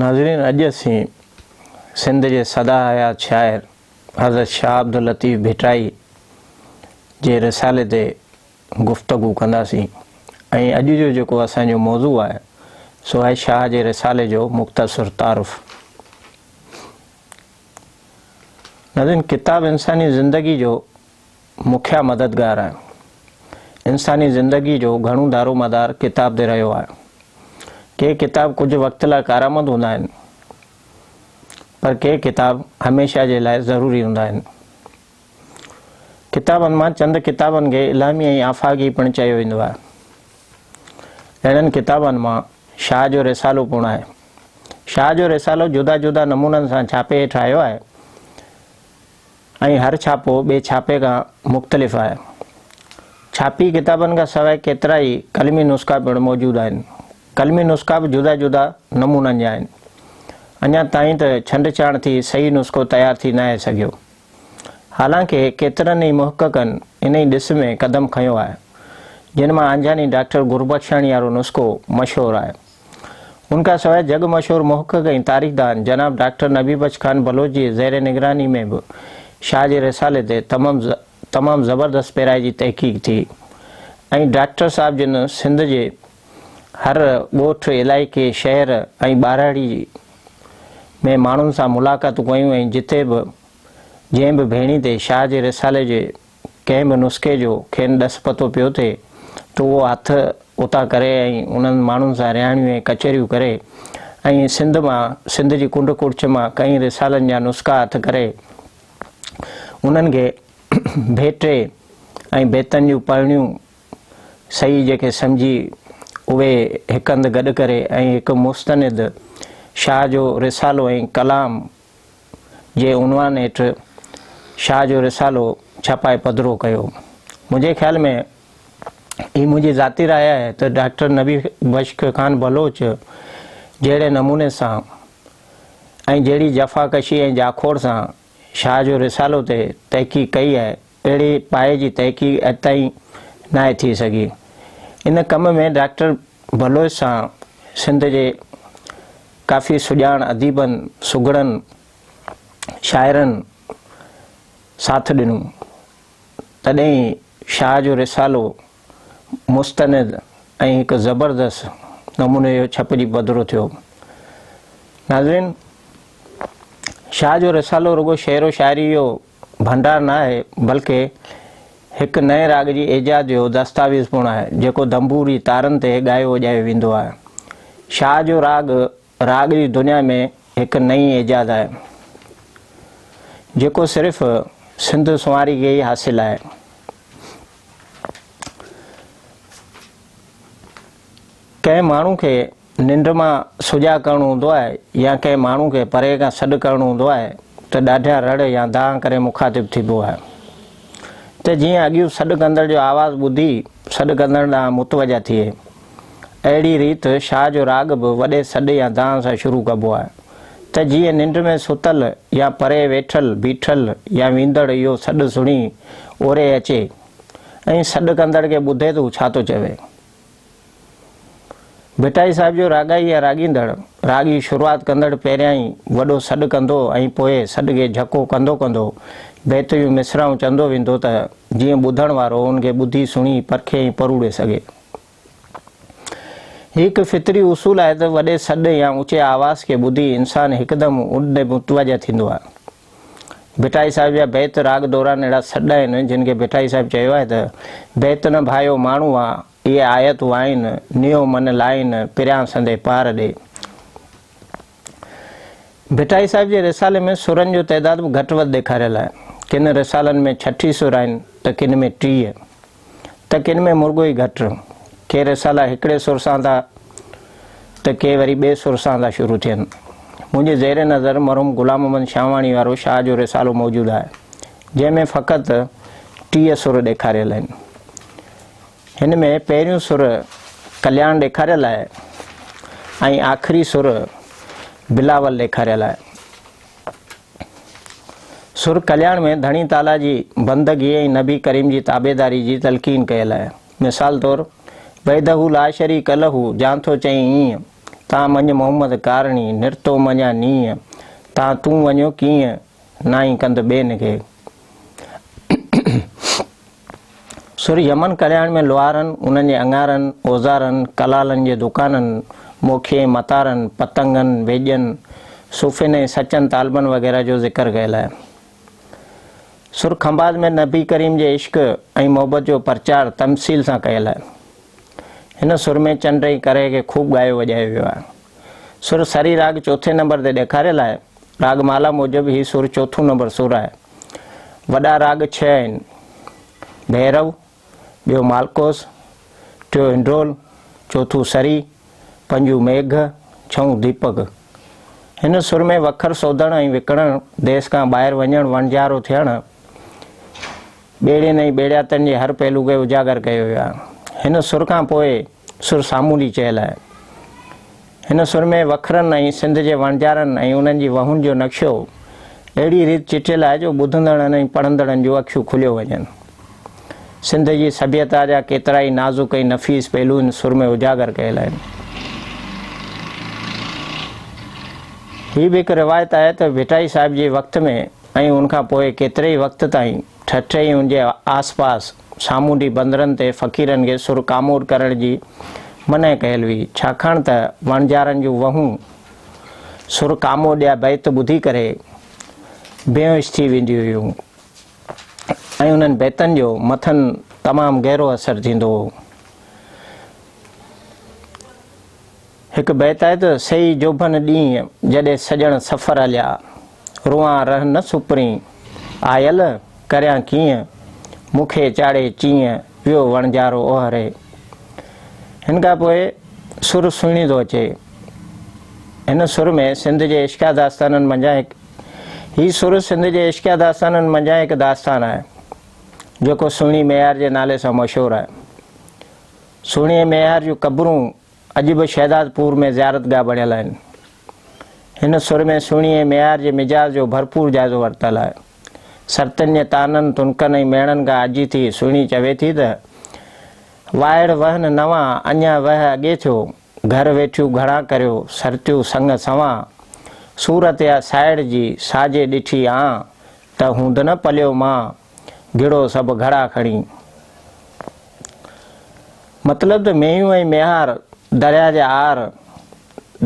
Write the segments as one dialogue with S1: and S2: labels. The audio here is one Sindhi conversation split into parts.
S1: ناظرين اڄ اسين سنڌ جي سدا حيات شاعر حضرت شاهه عبداللطيف ڀٽائي جي رسالي تي گفتگو ڪنداسين ۽ اڄ جو جيڪو اسان جو موضوع آهي سو آهي شاهه جي رسالي جو مختصر تعارف ناظرين! ڪتاب انساني زندگي جو مکيه مددگار آهي. انساني زندگي جو گهڻو دارومدار ڪتاب تي رهيو آهي. ڪي ڪتاب ڪجهه وقت لاء ڪارآمد هوندا آهن، پر ڪي ڪتاب هميشه جي لاء ضروري هوندا آهن. ڪتابن مان چند ڪتابن کي الهامي ۽ آفاقي پڻ چيو ويندو آهي. اهڙن ڪتابن مان شاهه جو رسالو پڻ آهي. شاهه جو رسالو جدا جدا نمونن سان ڇاپي هيٺ آيو آهي ۽ هر ڇاپو ٻئي ڇاپي کان مختلف آهي. ڇاپي ڪتابن کان سواء ڪيترا ئي قلمي نسخا پڻ موجود آهن. قلمي نسخا به جدا جدا نمونن جا آهن. اڃا تائين ته ڇنڊڇاڻ ٿي صحيح نسخو تيار ٿي ناهي سگهيو. حالانڪه ڪيترن ئي محققن انهي ڏس ۾ قدم کنيو آهي، جن مان آنجهاني ڊاڪٽر گربخشاڻي وارو نسخو مشهور آهي. ان کان سواء جڳ مشهور محقق ۽ تاريخدان جناب ڊاڪٽر نبي بخش خان بلوچ جي زير نگراني ۾ به شاهه جي رسالي تي تمام زبردست پيرائي جي تحقيق ٿي ۽ ڊاڪٽر صاحب جن سنڌ جي هر ڳوٺ، علائقي، شهر ۽ ٻاراڙي ۾ ماڻهن سان ملاقاتون ڪيون ۽ جتي به جنهن به ڀيڻي تي شاهه جي رسالي جي ڪنهن به نسخي جو کين ڏس پتو پيو ٿئي ته اهو هٿ اتان ڪري ۽ انهن ماڻهن سان رهاڻيون ۽ ڪچهريون ڪري ۽ سنڌ مان سنڌ جي ڪنڊ ڪڙڇ مان ڪئين رسالن جا نسخا هٿ ڪري انهن کي ڀيٽي ۽ بيتن جون پڙهڻيون صحيح جيڪي سمجهي اهي هڪ هنڌ گڏ ڪري ۽ هڪ مستند شاهه جو رسالو ۽ ڪلام جي عنوان هيٺ شاهه جو رسالو ڇپائي پڌرو ڪيو. منهنجي خيال ۾ هي منهنجي ذاتي راء آهي ته ڊاڪٽر نبي بخش خان بلوچ جهڙي نموني سان ۽ جهڙي جفا ڪشي ۽ جاکوڙ سان شاهه جو رسالو تي تحقيق ڪئي آهي، اهڙي پايي جي تحقيق اڄ تائين ناهي ٿي سگهي. ان ڪم ۾ ڊاڪٽر بلوچ سان سنڌ جي ڪافي سڄاڻ اديبن، سگهڙن شاعرن ساٿ ڏنو، تڏهن ئي شاهه جو رسالو مستند ۽ هڪ زبردست نموني جو ڇپجي پڌرو ٿيو. ناظرين! شاهه جو رسالو رڳو شعر و شاعري جو ڀنڊار نه آهي، بلڪه هڪ نئين راڳ جي ايجاد جو دستاويز پڻ آهي، جيڪو دنبوري تارن تي ڳايو وڄايو ويندو آهي. شاهه جو راڳ راڳ جي دنيا ۾ هڪ نئين ايجاد آهي، جيڪو صرف سنڌ سنواري کي ئي حاصل آهي. ڪنهن ماڻهو کي ننڊ مان سجاڳ ڪرڻو هوندو آهي يا ڪنهن ماڻهو کي پري کان سڏ ڪرڻو هوندو آهي ته ڏاڍيان رڙ يا دانهن ڪري مخاطب ٿيبو آهي ته جيئن اڳيون سڏ ڪندڙ جو آواز ٻڌي سڏ ڪندڙ ڏانهن متوجه ٿئي. اهڙي ريت شاهه جو راڳ به وڏي سڏ يا دانهن سان شروع ڪبو آهي ته جيئن ننڊ ۾ ستل يا پري ويٺل، بيٺل يا ويندڙ اهو سڏ سڻي اوري اچي ۽ سڏ ڪندڙ کي ٻڌي ته هو ڇا ٿو چوي. ڀٽائي صاحب جو راڳائي يا راڳيندڙ، راڳ جي شروعات ڪندڙ پهريائين وڏو سڏ ڪندو ۽ پوء سڏ کي جهڪو ڪندو ڪندو بيت جون مصراعون چندو ويندو ته جيئن ٻڌڻ وارو ان کي ٻڌي سڻي پرکي ۽ پروڙي سگهي. هي هڪ فطري اصول آهي ته وڏي سڏ يا اوچي آواز کي ٻڌي انسان هڪدم ان ڏي متوجه ٿيندو آهي. ڀٽائي صاحب جا بيت راڳ دوران اهڙا سڏ آهن جن کي ڀٽائي صاحب چيو آهي ته، بيت نه ڀايو ماڻهو آ، اهي آيتون آهن، نيو من لائين، پريان سندي پار ڏي. ڀٽائي صاحب جي رسالي ۾ سرن جو تعداد به گهٽ وڌ ڏيکاريل آهي. ڪن رسالن ۾ ڇٺي سر آهن ته ڪن ۾ ٽيهه ته ڪن ۾ مرڳو ئي گهٽ. ڪي رسالا هڪڙي سر سان ٿا ته ڪي وري ٻئي سر سان ٿا شروع ٿين. منهنجي زير نظر مرحوم غلام محمد شاهواڻي وارو شاهه جو رسالو موجود آهي، جنهن ۾ فقط ٽيهه سر ڏيکاريل آهن. هن ۾ پهريون سر ڪلياڻ ڏيکاريل آهي ۽ آخري سر بلاول ڏيکاريل آهي. سر ڪلياڻ ۾ ڌڻي تعاليٰ جي بندگي ۽ نبي ڪريم جي تابعداري جي تلقين ڪيل آهي. مثال طور، وحده لا شريڪ له جان ٿو چئي ايئن، تان مڃ محمد ڪارڻي، نرتو مڃان نيئن، تان تون وڃو ڪيئن، نائين ڪند ٻين کي. سر يمن ڪلياڻ ۾ لوهارن، انهن جي اڱارن، اوزارن، ڪلالن جي دڪانن، موکي، متارن، پتنگن، ويڄن، صوفين ۽ سچن طالبن وغيره جو ذڪر ڪيل آهي. سر خنڀاز ۾ نبي ڪريم جي عشق ۽ محبت جو پرچار تمثيل سان ڪيل آهي. هن سر ۾ چنڊ ۽ ڪرهه کي خوب ڳايو وڄايو ويو آهي. سر سري راڳ چوٿين نمبر تي ڏيکاريل آهي. راڳ مالا موجب هي سر چوٿون نمبر سر آهي. وڏا راڳ ڇهه آهن، ڀيرو، ٻيو مالڪوس، ٽيون هنڊرول، چوٿون سري، پنجون ميگهه، ڇهون ديپڪ. هن سر ۾ وکر سوڌڻ ۽ وڪڻڻ، ديس کان ٻاهر وڃڻ، وڻجارو ٿيڻ، ٻيڙين ۽ ٻيڙياتن جي هر پهلو کي اجاگر ڪيو ويو آهي. هن سر کان پوء سر سامونڊي چيل آهي. هن سر ۾ وکرن ۽ سنڌ جي وڻجارن ۽ انهن جي وهون جو نقشو اهڙي ريت چٽيل آهي جو ٻڌندڙن ۽ پڙهندڙن جون اکيون کليو وڃن. سنڌ جي سڀيتا جا ڪيترائي نازڪ ۽ نفيس پهلو هن سر ۾ اجاگر ڪيل آهن. هي به هڪ روايت آهي ته ڀٽائي صاحب جي وقت ۾ ۽ ان کان پوء ڪيتري ئي وقت تائين ٺٽي ۽ ان جي آس پاس سامونڊي بندرن تي فقيرن کي سر ڪامور ڪرڻ جي منع ڪيل هئي، ڇاڪاڻ ته وڻجارن جون وهون سر ڪامور جا بيت ٻڌي ڪري بيهوش ٿي وينديون هيون ۽ انهن بيتن جو مٿن تمام گهرو اثر ٿيندو هو. هڪ بيت آهي ته سهي جوڀن ڏينهن جڏي سڄڻ سفر هليا روئان رهه نه سپرين آيل ڪريان ڪيئن مون کي چاڙهي چيئن ويو وڻجارو اوهري هن کان پوء سر سهڻي ٿو اچي هن سر ۾ سنڌ جي عشقيا داستانن منجهان هڪ هي سر سنڌ جي عشقيا داستانن منجهان هڪ داستان آهي جيڪو سهڻي ميار جي نالي سان مشهور آهي سهڻي ميار جون قبرون اڄ به شهداد پور ۾ زيارتگاهه بڻيل آهن. هن سر ۾ سهڻي ۽ ميار جي مجاز جو ڀرپور جائزو ورتل آهي. سرتن جي طعنن، تنڪن ۽ ميڻن کان آجي ٿي سهڻي چوي ٿي ته، وائڙ وهن نوان، اڃا وهه اڳي ٿيو، گهر ويٺيون گهڻا ڪريو، سرتيون سڱ سوان، صورت اها سائڙ جي، ساجي ڏٺي آن، ته هوند نه پليو مان، گهڙو سڀ گهڙا کڻي. مطلب ته مينهيون ۽ ميهار، درياء جا آر،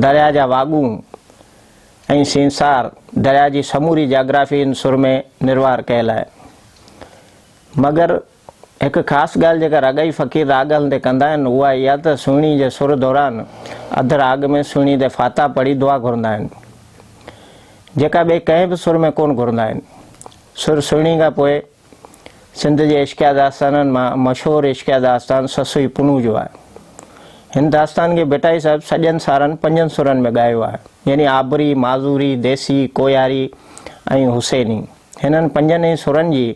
S1: درياء جا واڳون ۽ سينسار درياء جي سموري جاگرافي ان سر ۾ نروار ڪيل آهي. مگر هڪ خاص ڳالهه جيڪا راڳائي فقير راڳ هلندي ڪندا آهن اها اها ته سهڻي جي سر دوران اڌ راڳ ۾ سهڻي تي فاتح پڙهي دعا گهرندا آهن جيڪا ٻئي ڪنهن به سر ۾ ڪونه گهرندا آهن. سر سهڻي کان پوء سنڌ جي عشقيه داستانن مان مشهور عشقيه داستان سسئي پنهون جو آهي. هن داستان کي ڀٽائي صاحب سڄن سارن پنجن سرن ۾ ڳايو آهي. يعني آبري، معذوري، ديسي، ڪوهياري ۽ حسيني. هنن پنجن ئي سرن جي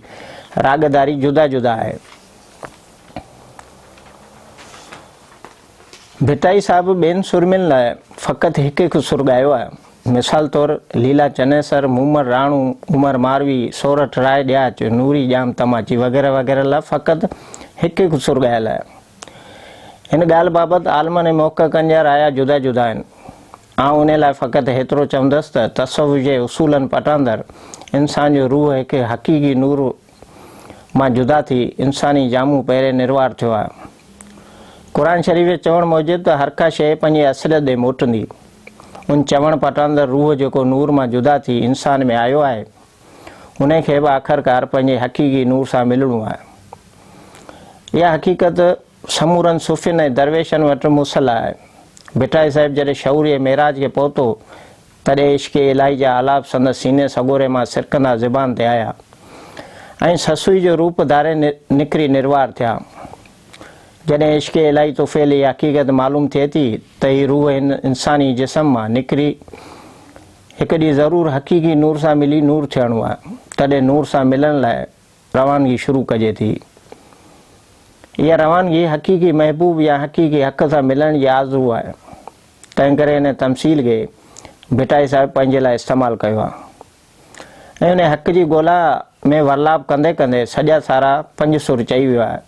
S1: راڳداري جدا جدا آهي. ڀٽائي صاحب ٻين سرمين لاء فقط هڪ هڪ سر ڳايو آهي. مثال طور ليلا چنيسر، مومل راڻو، عمر ماروي، سورٺ راء ڏياچ، نوري ڄام تماچي وغيره وغيره لاء فقط هڪ هڪ سر ڳايل آهي. هن ڳالهه بابت عالمن ۽ محققن جا رايا جدا جدا آهن. آئون انهي لاء فقط هيترو چوندس ته تصوف جي اصولن پٽاندر انسان جو روح هڪ حقيقي نور مان جدا ٿي انساني جامو پهري نروار ٿيو آهيان. قرآن شريف جي چوڻ موجب ته هرڪا شيء پنهنجي اصليت ڏي موٽندي. ان چوڻ پٽان ته روح جيڪو نور مان جدا ٿي انسان ۾ آيو آهي، انهي کي به آخرڪار پنهنجي حقيقي نور سان ملڻو آهي. اها حقيقت سمورن صوفين ۽ درويشن وٽ مصلح آهي. ڀٽائي صاحب جڏهن شعور جي معراج کي پهتو تڏهن عشق الاهي جا آلاپ سندس سيني سڳوري مان سرڪندا زبان تي آيا ۽ سسئي جو روپ ڌاري نکري نروار ٿيا. جڏهن عشق الاهي طفيل هي حقيقت معلوم ٿئي ٿي ته هي روح هن انساني جسم مان نکري هڪ ڏينهن ضرور حقيقي نور سان ملي نور ٿيڻو آهي. تڏهن نور سان ملڻ لاء روانگي شروع ڪجي ٿي. اها روانگي حقيقي محبوب يا حقيقي حق سان ملڻ جي آرزو آهي. تنهن ڪري ان تمثيل کي ڀٽائي صاحب پنهنجي لاء استعمال ڪيو آهي ۽ ان حق جي ڳولا ۾ ورلاپ ڪندي ڪندي سڄا سارا پنج سر چئي ويو آهي.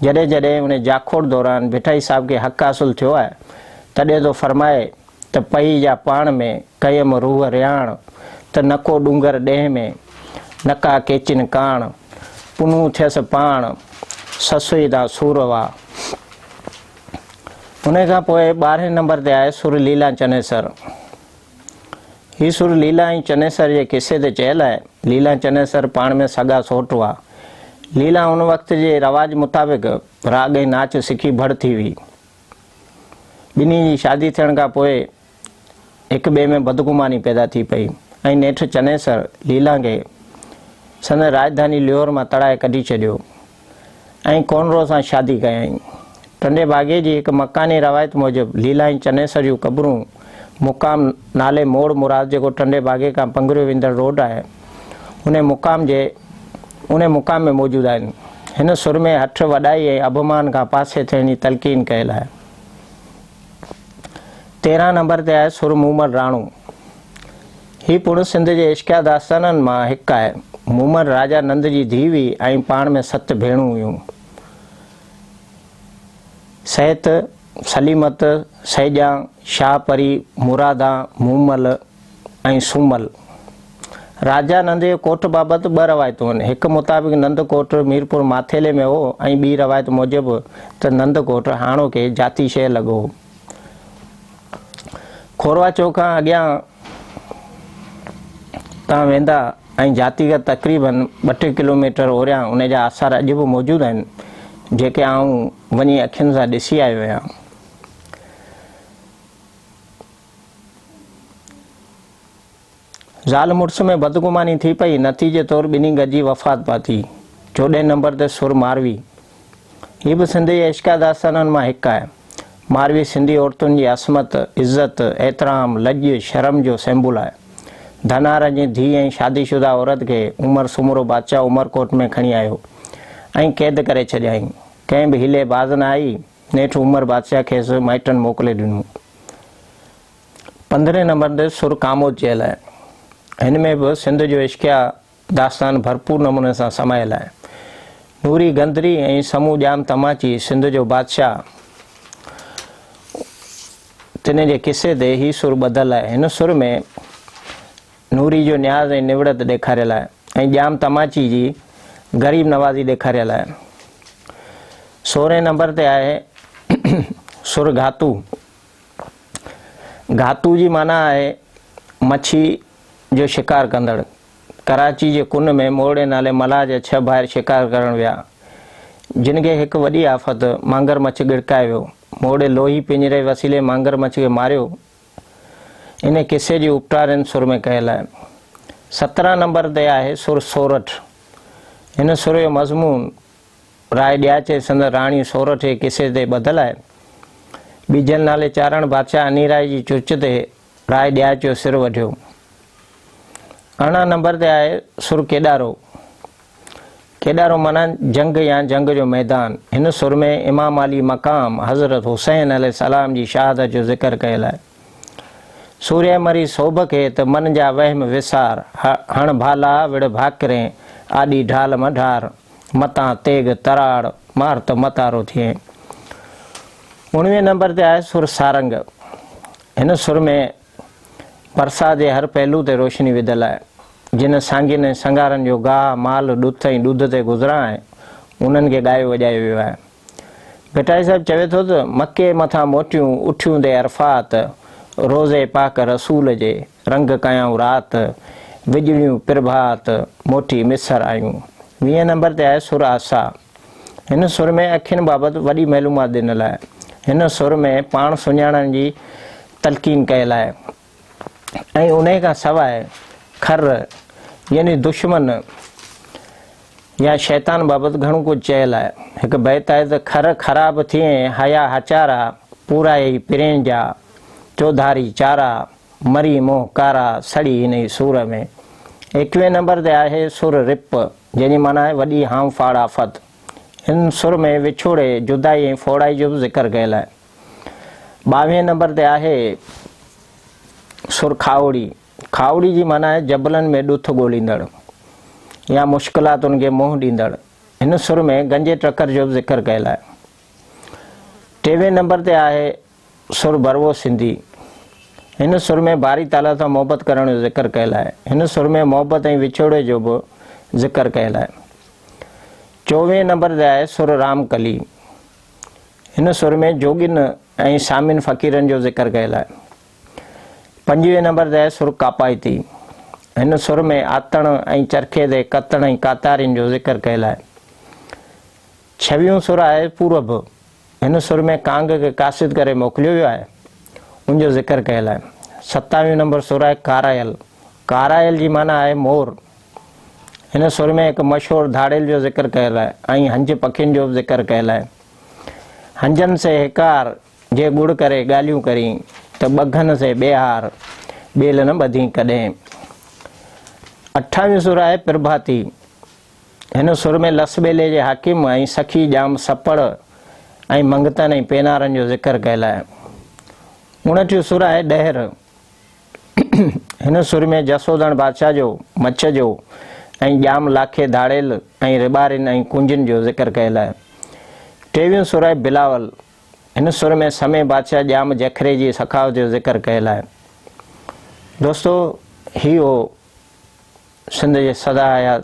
S1: جڏهن جڏهن ان جاکوڙ دوران ڀٽائي صاحب کي حق حاصل ٿيو آهي تڏهن ٿو فرمائي ته پئي جا پاڻ ۾ ڪيم روح رياڻ ته نڪو ڏونگر ڏيهه ۾ نڪا ڪيچين ڪاڻ پنهون ٿيس پاڻ سسوئي دان سور وا. انهيء کان پوء ٻارهين نمبر تي آهي سر ليلا چنيسر. هي سر ليلا ۽ چنيسر جي قصي تي چيل آهي. ليلا ۽ چنيسر پاڻ ۾ سڳا سوٽ هئا. ليلا ان وقت جي رواج مطابق راڳ ۽ ناچ سکي ڀڙ ٿي هئي. ٻنهي جي شادي ٿيڻ کان پوء هڪٻئي ۾ بدگماني پيدا ٿي پئي ۽ نيٺ چنيسر ليلانگي سندن راڄڌاني ليهور مان تڙائي ڪڍي ڇڏيو ۽ ڪونرو سان شادي ڪيائين. ٽنڊي ڀاڳي جي هڪ مڪاني روايت موجب ليلا ۽ چنيسر جون قبرون مقام نالي موڙ مراد جيڪو ٽنڊي ڀاڳي کان پنگريو ويندڙ روڊ آهي انهي مقام جي انهي مقام ۾ موجود آهن. هن سرمي هٺ، وڏائي ۽ اڀمان کان پاسي ٿيڻ جي تلقين ڪيل آهي. تيرهن نمبر تي آهي سر مومل راڻو. هي پڻ سنڌ جي عشقيه داستانن مان هڪ آهي. مومل راجا نند جي ڌيء هئي ۽ پاڻ ۾ ست ڀيڻون هيون. سهت، سليمت، سيڄان، شاهه پري، مرادان، مومل، ۽ سومل راجا نند جي ڪوٺ بابت ٻه روايتون آهن. هڪ مطابق نند ڪوٺ ميرپور ماٿيلي ۾ هو ۽ ٻي روايت موجب ته نند ڪوٺ هاڻوڪي جاتي شهر لڳو هو. کوروا چوڪ کان اڳيان تان ويندا ۽ جاتي کان تقريبن ٻه ٽي ڪلوميٽر اوريان ان جا آثار اڄ به موجود آهن، جيڪي آئون وڃي اکين سان ڏسي آيو آهيان. زال مڙس ۾ بدگماني ٿي پئي، نتيجي طور ٻنهي گڏجي وفات پاتي. چوڏهين نمبر تي سر ماروي. هي به سنڌي جي عشقيه داستانن مان هڪ آهي. ماروي سنڌي عورتن جي عصمت، عزت، احترام، لڄ، شرم جو سيمبول آهي. ڌنار جي ڌيء ۽ شادي شده عورت کي عمر سومرو بادشاهه عمرڪوٽ ۾ کڻي آيو ۽ قيد ڪري ڇڏيائين. ڪنهن به حيلي باز نه آئي. نيٺ عمر بادشاهه کيس مائٽن موڪلي ڏنو. پندرهين نمبر تي سر ڪاموت چيل آهي. هن ۾ به سنڌ جو عشقيه داستان ڀرپور نموني سان سمايل آهي. نوري گندري ۽ سمون ڄام تماچي سنڌ جو بادشاهه تنهن جي قصي تي هي سر ٻڌل آهي. هن سر ۾ نوري جو نياز ۽ نوڙت ڏيکاريل آهي ۽ ڄام تماچي جي غريب نوازي ڏيکاريل آهي. سورهين نمبر تي آهي سر گهاتو. گهاتو جي معنيٰ آهي مڇي جو شڪار ڪندڙ. ڪراچي جي ڪن ۾ مورڙي نالي ملاح جا ڇهه ڀائر شڪار ڪرڻ ويا، جن کي هڪ وڏي آفت مانگر مڇ ڳڙڪائي ويو. مورڙي لوهي پڃري وسيلي مانگر مڇ کي ماريو انهيء قصي جي اپٽارين سر ۾ ڪيل آهي. سترهن نمبر تي آهي سر سورٺ. هن سر جو مضمون راء ڏياچي سندس راڻي سورٺ جي قصي تي ٻڌل آهي. ٻيجل نالي چارڻ بادشاهه انيرائي جي چرچ تي راء ڏياچ جو سر وڍيو. ارڙهن نمبر تي آهي سر ڪيڏارو. کيڏارو معنيٰ جنگ يا جنگ جو ميدان. هن سر ۾ امام علي مقام حضرت حسين عليه السلام جي شهادت جو ذڪر ڪيل آهي. سورهيه مري سوڀ کي ته من جا وهم وسار، هڻ ڀالا وڙهه ڀاڪرين، آڏي ڍال مان ڍار، متان تيغ تراڙ، مار ته متارو ٿئين. اوڻويهين نمبر تي آهي سر سارنگ. هن سر ۾ پرساء جي هر پهلو تي روشني وڌل آهي. جن سانگين ۽ سنگارن جو گاهه، مال، ڏت ۽ ڏوڌ تي گذران آهي، انهن کي ڳايو وڄايو ويو آهي. ڀٽائي صاحب چوي ٿو ته، مڪي مٿان موٽيون اٺيون دي عرفات، روضي پاڪ رسول جي، رنگ ڪيائون رات، وڄڙيون پرڀات، موٽي مصر آيون. ويهين نمبر تي آهي سر آسا. هن سر ۾ اکين بابت وڏي معلومات ڏنل آهي. هن سر ۾ پاڻ سڃاڻڻ جي تلقين ڪيل آهي ۽ انهي کان سواء خر يعني دشمن يا شيطان بابت گهڻو ڪجهه چيل آهي. هڪ بيت آهي ته خر خراب ٿئين هيا هچارا، پورائي پرين جا چوڌاري چارا، مري منهن ڪارا، سڙي انهي سور ۾. ايڪوهين نمبر تي آهي سر رپ، جنهن جي معنيٰ آهي وڏي هانء ڦاڙ آفت. هن سر ۾ وڇوڙي، جدائي ۽ ڦوڙائي جو به ذڪر ڪيل آهي. ٻاويهين نمبر تي آهي سرخاوڙي کاوڙي جي معنيٰ آهي جبلن ۾ ڏٿ ڳوليندڙ يا مشڪلاتن کي منهن ڏيندڙ هن سر ۾ گنجي ٽڪر جو به ذڪر ڪيل آهي ٽيوين نمبر تي آهي سر بروو سنڌي هن سر ۾ باري تعالا سان محبت ڪرڻ جو ذڪر ڪيل آهي هن سر ۾ محبت ۽ وڇوڙي جو به ذڪر ڪيل آهي چوويهين نمبر تي آهي سر رام ڪلي هن سر ۾ جوڳين ۽ سامين فقيرن جو ذڪر ڪيل آهي. پنجويهه نمبر تي سر ڪاپائتي. هن سر ۾ آتڻ ۽ چرخي تي ڪتڻ ۽ ڪاتارين جو ذڪر ڪيل آهي. ڇويهون سر آهي پورڀ. هن سر ۾ ڪانگ کي قاصد ڪري موڪليو ويو آهي. ان جو ذڪر ڪيل آهي. ستاويهون نمبر سر آهي ڪارائل. ڪارائل جي معنيٰ آهي مور. هن سر ۾ هڪ مشهور ڌاڙيل جو ذڪر ڪيل آهي ۽ هنج پکين جو به ذڪر ڪيل آهي. هنجن سي هيڪار، جي ڳڙ ڪري ڳالهيون ڪرين، ته ٻگهن سي ٻيهار، ٻيل نه ٻڌين ڪڏهن. اٺاويون سر آهي پرڀاتي. هن سر ۾ لس ٻيلي جي حاڪم ۽ سخي ڄام سپڙ ۽ منگتن ۽ پينارن جو ذڪر ڪيل آهي. اڻٽيون سر آهي ڏهر. هن سر ۾ جسوڌڻ بادشاهه جو، مڇ جو ۽ ڄام لاکي ڌاڙيل ۽ رٻارين ۽ ڪنجين جو ذڪر ڪيل آهي. ٽيويون سورهيه بلاول، هن سر ۾ سمي بادشاهه ڄام جکري جي سخاوت جو ذڪر ڪيل آهي. دوستو هي هو سنڌ جي سدا حيات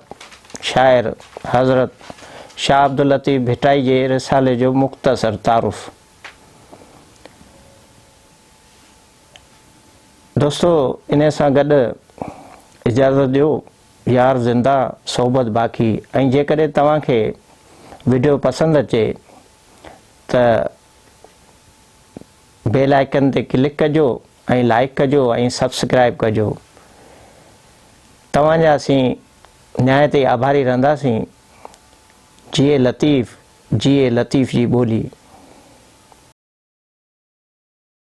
S1: شاعر حضرت شاهه عبداللطيف ڀٽائي جي رسالي جو مختصر تعارف. دوستو انهي سان گڏ اجازت ڏيو يار زنده صحبت باقي ۽ جيڪڏهن توهان کي وڊيو پسند اچي ته بيل آئڪن تي ڪلڪ ڪجو ۽ لائڪ ڪجو ۽ سبسڪرائب ڪجو توهان جا اسين نهايت ئي آڀاري رهنداسين جيئي لطيف جيئي لطيف جي ٻولي